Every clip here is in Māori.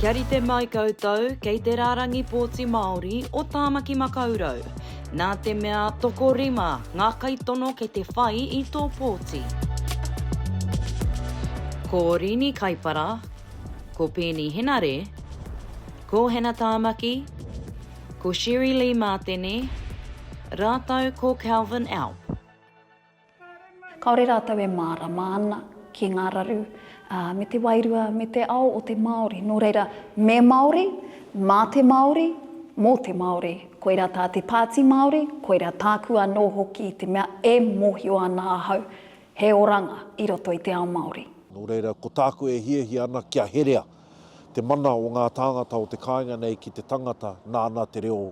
Kia rite mai koutou kei te rārangi pōti Māori o Tāmaki Makaurau. Nā te mea tokorima ngā kaitono kei te whai i tō pōti. Ko Rini Kaipara, ko Peeni Henare, ko Hana Tāmaki, ko Sherry-Lee Mātene rātou ko Kelvin Alp. Kāore rātou e mārama ana ki ngā raru, ā, me te wairua, me te ao o te Māori. Nō reira, me Māori, mā te Māori, mō te Māori. Koirā tā te Pāti Māori, koirā tāku anō hoki, te mea e mōhio ana ahau, he oranga i roto i te ao Māori. Nō reira, ko tāku e hiahia ana kia herea te mana o ngā tāngata o te kāinga nei ki te tangata nāna te reo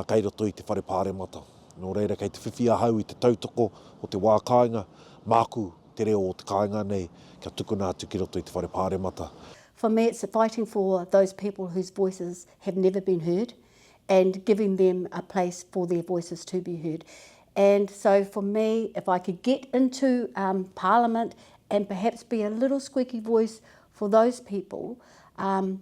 kei roto i te whare pāremata. Nō reira, kei te whiwhi ahau i te tautoko o te wā kāinga, māku te reo o te kāinga nei kia tukuna atu ki roto i te whare pāremata. For me it's fighting for those people whose voices have never been heard and giving them a place for their voices to be heard. And so for me, if I could get into um, Parliament and perhaps be a little squeaky voice for those people, um,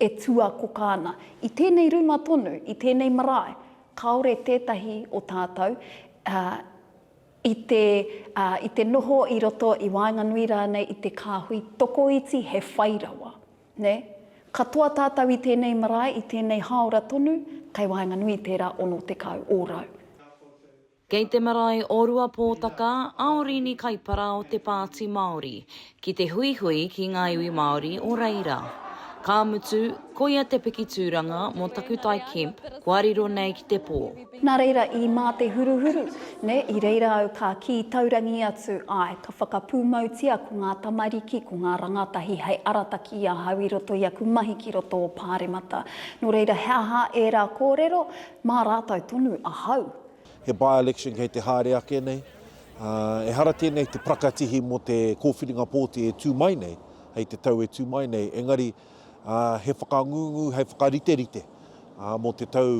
e tuakoka ana. I tēnei ruma tonu, i tēnei marae, kāore tētahi o tātou i te, i te noho i roto i waenganui rānei i te kāhui tokoiti he whai rawa. Nē? Katoa tātou i tēnei marae, i tēnei hāora tonu, kei waenganui i tērā 60 ōrau. Kei te marae o Ruapōtaka a Orīni Kaipara o Te Pāti Māori ki te huihui ki ngā iwi Māori o reira. Ka mutu, koia te piki tūranga mō Takutai Kemp kua riro nei ki te pō. Nā reira i mā te huruhuru, nē, i reira au ka kī taurangi atu, āe, ka whakapūmautia ko ngā tamariki, ko ngā rangatahi hei arataki i ahau i roto i aku mahi ki roto o Pāremata. Nō reira he aha ērā kōrero? Mā rātou tonu ahau. He by-election kei te haere ake nei. Ehara tēnei te prakatihi mō te kōwhiringa pōti e tū mai nei, hei te tau e tū mai nei, engari he whakangungu hei whakariterite mō te tau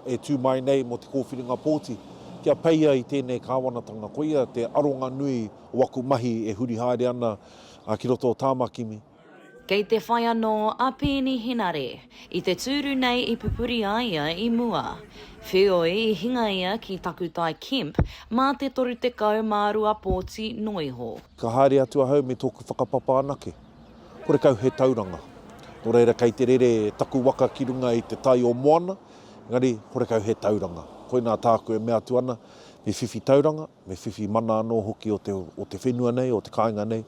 e tū mai nei mō te kōwhiringa pōti kia peia i tēnei kāwanatanga. Koia te aronga nui o aku mahi e huri haere ana ki roto o Tāmakimi. Kei te whai anō a Peeni Henare i te tūru nei i pupuri a ia i mua. Wheoi i hinga ia ki Takutai Kemp mā te 32 pōti noa iho. Ka haere atu ahau me tōku whakapapa anake. Kore kau he tauranga. Nō reira kei te rere taku waka ki runga i te tai o moana, engari kore kau he tauranga. Koinā tāku e mea atu ana, me whiwhi tauranga. Me whiwhi mana anō hoki o te, o te whenua nei, o te kāinga nei,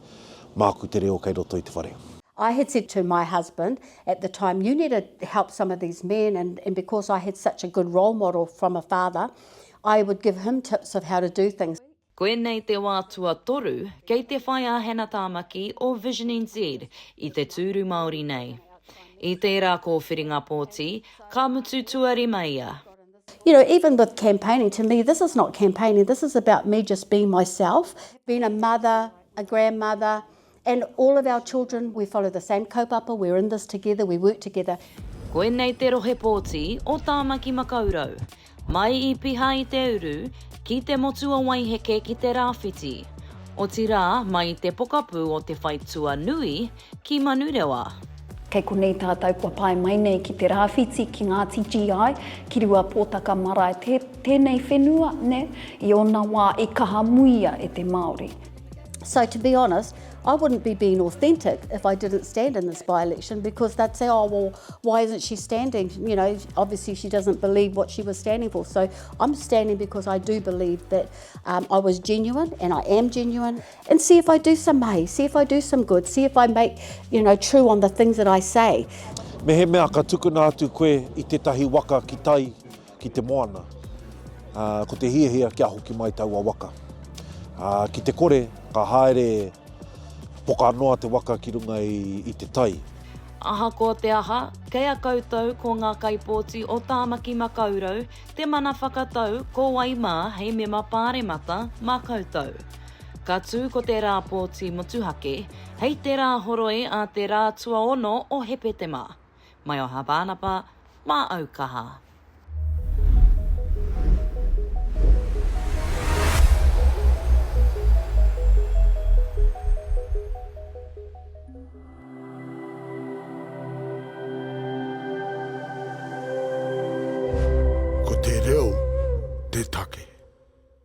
māku te reo kei roto i te whare. I had said to my husband at the time, you need to help some of these men and, and because I had such a good role model from a father, I would give him tips of how to do things. Koinei te wā tuatoru kei te whai a Hannah Tāmaki o Vision NZ i te tūru Māori nei. I tērā kōwhiringa pōti, ka mutu tuarima ia. You know, even with campaigning, to me this is not campaigning, this is about me just being myself, being a mother, a grandmother, and all of our children, we follow the same kaupapa, we're in this together, we work together. Koinei te rohe pōti o Tāmaki Makaurau. Mai i Piha i te uru, ki Te Motu-a-Waiheke ki te Rāwhiti. Otirā, mai i te pokapū o Te Whai Tuanui, ki Manurewa. Kei konei tātou kua pae mai nei ki te rāwhiti, ki ngā TGI, ki Ruapōtaka marae, tē, tēnei whenua, nē, i ōna wā i kaha muia e te Māori. So to be honest, I wouldn't be being authentic if I didn't stand in this by-election because they'd say, oh, well, why isn't she standing? You know, obviously she doesn't believe what she was standing for. So I'm standing because I do believe that um, I was genuine and I am genuine. and see if I do some mahi, see if I do some good, see if I make, you know, true on the things that I say. Mehemea ka tukuna atu koe i tētahi waka ki tai, ki te moana, uh, ko te hiahia kia hoki mai taua waka. Uh, ki te kore, ka haere poka noa te waka ki runga i, i te tai. Ahakoa te aha, kei a koutou ko ngā kaipōti o Tāmaki Makaurau Te mana whakatau, ko wai mā hei mema Pāremata mā koutou. Ka tū ko te rā pōti motuhake, hei te rā horoi a te rā tuaono o Hepetema. Mai o Hāpānapa, mā au kaha. Ko te reo te take.